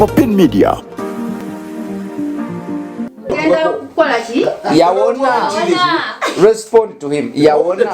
Popin Media. yawona respond to him yawona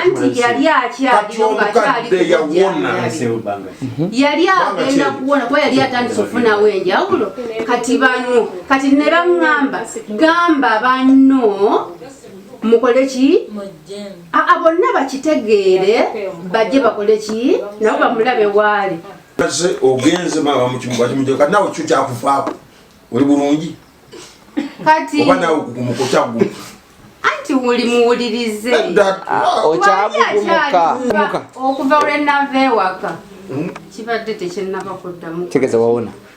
anti yali akyaliyo nga akyali yawona mhm. yali agenda kuwona kuba yali atandise okufunawo enjawulo kati bano kati ne baŋŋamba gamba banno mukole ki aa bonna bakitegeere bajje bakole ki nabo bamulabe waali kase ogenze maama mukimubakimujeo kati nawe kyo kyakufaako oli bulungi kati oba nawe kugumukokyagu anti wuli muwulirize ah, okyagugumuka okuva lwenava ewaka hmm? kibadde tekyenaba kuddamu tegeza wawona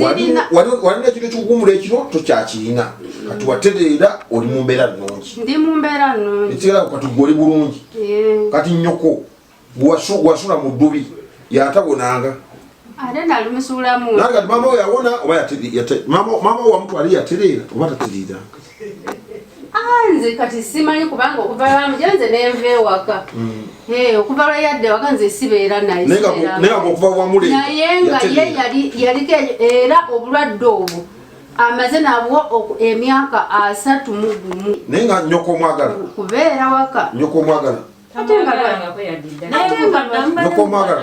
walina ekintu ekikuwumula ekiro tokyakirina kati watereera oli mu mbeera nnungi ekigalako kati gwe oli bulungi kati nyoko gwewasula mu ddubi yatabonanga nange kati mama oyo awona oba maama owamutwali yatereera oba tatereeranga Ah, nze kati simanyi kubanga okuva lwamuja nze nenva ewaka mm. eh, okuva lwe yadde ewaka nze sibeera naye nga ye yaliko era obulwadde obwo amaze nabwo emyaka asatu mu gumu naye nga nyoko omwagala kubeera waka nyoko omwagala ate nga nyoko omwagala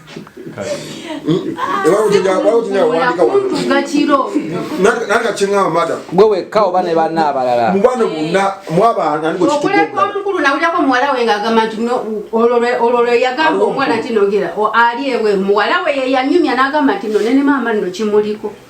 gwe wekka oba ne banna abalala okuleka omukulu nawulirako muwala we ngaagamba nti olwo lweyagamba omwana nti nogera ali ewe muwala we yeyanyumya nagamba nti no nene maama nno kimuliko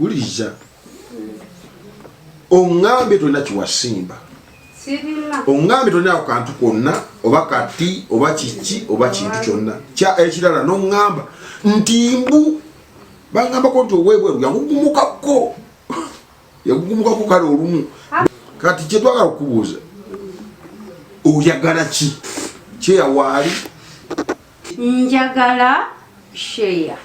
wuliriza ongambye tolina kiwasimba ongambye tolina ako kantu konna oba kati oba kiki oba kintu kyonna ekirala nongamba nti mbu bangambako nti owebweru yagugumukako yagugumukako kale olumu kati kyetwagala okukubuuza oyagala ki kyeyawaali njagala share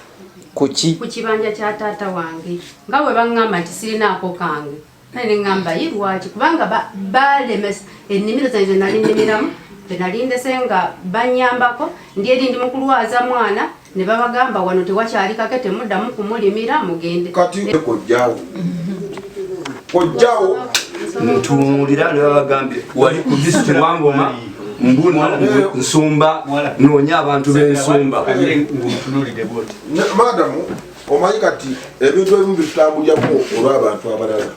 kuki ku kibanja kya taata wange nga bwe baŋŋamba nti sirinaako kange kale ne ŋŋamba yi lwaki kubanga balemesa ennimiro zange ze nali nnimiramu be nali ndese nga bannyambako ndi eri ndi mu kulwaza mwana ne babagamba wano tewakyali kake temuddamu kumulimira mugende kati ekojjawo kojjawo ntunuulira ne babagambye wali ku disiti wangoma mbuna nsumba noonya abantu b'ensumba madamu omanyi kati ebintu ebimu bitutambulirako olw'abantu abalala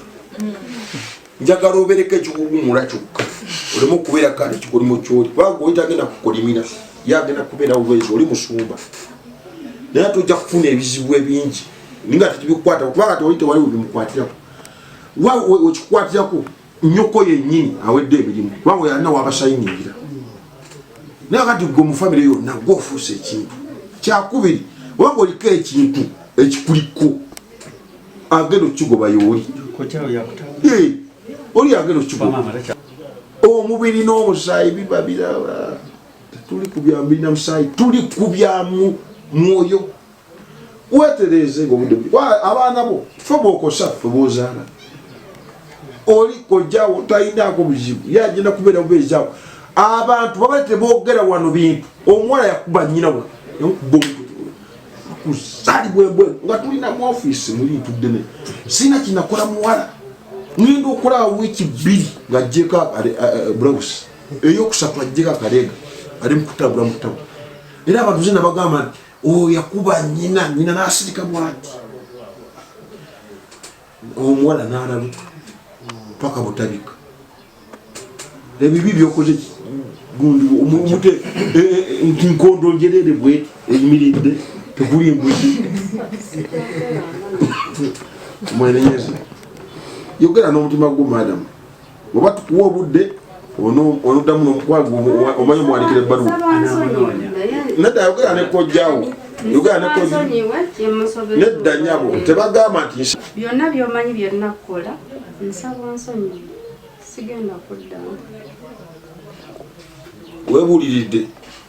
njagala obereko ekikuwumula kyokka oleme okubeera kale kikolimo kyoli kubanga oli tagenda kukolimira ye agenda kubeera olwezi oli musumba naye ate ojja kufuna ebizibu ebingi ninga tekibikwata kuba kati oli tewali webimukwatirako wa wekikwatirako nyoko yenyini awedde emirimu kuba we yalina wabasayingira naye kati gwe mu famire yonna gwe ofuuse ekintu kyakubiri wanga oliko ekintu ekikuliko agenda okukigoba yooli oli agenda okukigoba omubiri n'omusaayi biba biraba tuli kubyamu birina musaayi tuli kubyamu mwoyo wetereeze ngaobudde abaana bo fe bokosa fe bozaala oli kojjawo talinaako buzibu ye agenda kubeera bubeezawo abantu baba tebogera wano bintu omuwala yakuba nyina wa kusalibwebwe nga tulina mu ofiisi muli ntuddene sirina kinakola muwala ngenda okulaba wiiki bbiri ng'ajjeko eh, eh, bulawusi eyokusatu ajjeko akaleega ali mukutambula mukutabo era abantu zina bagamba nti oyo yakuba nyina nyina nasirika bwati omuwala nalaluka paka butabika ebibi byokoze gundi omumute e, e, e, nti nkondo njerere bwe eyimiridde tekuli embuzi mwenenyezi yogera n'omutima gwo madamu oba tukuwa obudde onoddamu nomukwano omanyi omuwandikira ebbaluwa nedda ayogera ne kojjawo yogera ne kojja nedda nyabo tebagamba nti byonna byomanyi byonna kukola nsaba onsonyi sigenda kuddamu webuuliridde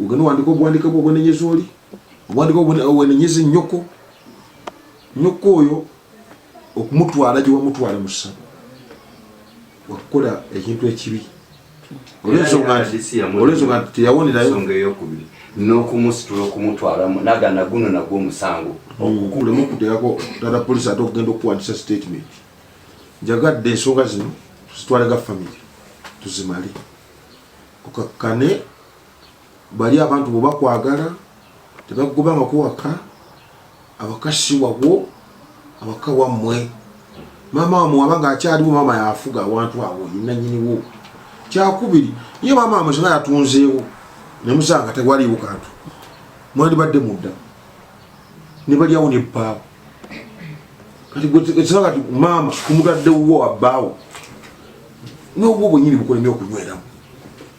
Ogenda owandika obuwandika bwo obwenenyeza oli obuwandika obwenenyeza ennyoko nnyoko oyo okumutwala gye wamutwala mu ssabo wakukola ekintu ekibi olwensonga nti olwensonga nti teyawonerayo nsonga eyokubiri n'okumusitula okumutwalamu nagana guno nagwo omusango okukulemu okuteekako tata polisi ate okugenda okuwandisa statement njagadde ensonga zino tuzitwale ga famiry tuzimale okakkane bali abantu bwe bakwagala tebakugobangako waka awaka si wabwo awaka wammwe maama wamwe waba nga akyaliwo maama yafuga awantu awo yinanyiniwo kyakubiri ye maama wamwe sina yatunzeewo nemusanga tewaliwo kantu mwandibadde mudda nebalyawo nebbaawo kati gwekisaa kati maama kumutadde wuwo wabbaawo nobwo bwenyini bukulemye okunyweramu